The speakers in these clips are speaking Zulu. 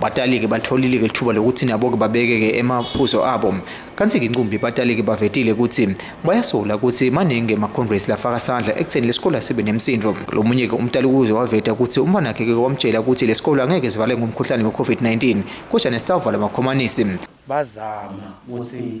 Batalike batholile-ke lithuba lokuthi nabo-ke babeke-ke emaphuzo abo. Kanti-ke inqumbi batalike bavetile ukuthi bayasola ukuthi maningi emacongress lafaka sandla ekutheni lesikole asibe nemsindo. Lo munye-ke umtali ukuze waveta ukuthi umfanakhe-ke wamtshela ukuthi lesikole angeke sivale ngomkhuhlane we-COVID-19 kodwa nesitawuvala amakhomanisi. Bazama ukuthi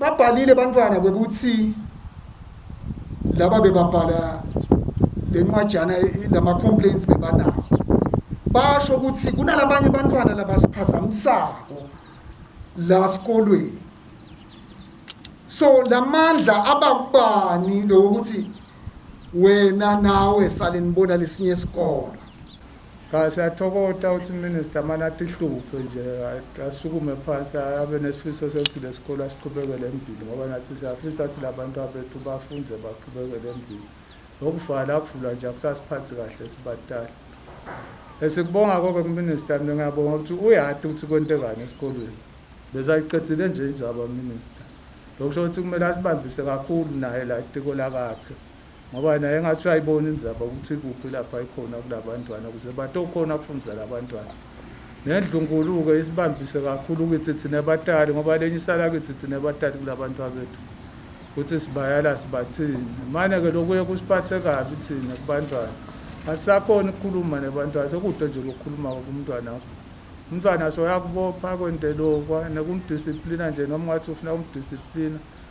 Babhalile bantwana bekuthi laba bebabhala lenqwajana lama complaints bebanawo basho ukuthi kunalabanye bantwana labasiphazamisako la sikolweni so lamandla abakubani lokuthi wena nawe sale nibona lesinye isikolo Cha siyathokota ukuthi minister mani atihluphe nje asukume phansi abe nesifiso sokuthi lesikole asiqhubekele embili ngoba nathi siyafisa ukuthi labantu abethu bafunde baqhubekele embili ngokuvala kuvulwa nje akusasiphathi kahle sibatala esikubonga konke kuminister mina ngiyabonga ukuthi uyati ukuthi kwentekani esikolweni bezayiqedile nje injaba minister lokusho ukuthi kumele asibambise kakhulu naye la itiko lakakhe ngoba naye engathi uyayibona inzaba ukuthi kuphi lapha ikhona kulabantwana ukuze batokhona ukufundisa labantwana nendlunkulu-ke isibambise kakhulu kithi thina batali ngoba lenye isala kithi thina batali kulabantu abethu ukuthi sibayala sibathini mane-ke lokuye kusiphathe kabi thina kubantwana asisakhona ukukhuluma nebantwana sekude nje lokukhuluma-ke kumntwana wakho umntwana soyakubopha kwente lokwa nekumdisiplina nje noma ungathi ufuna kumdisiplina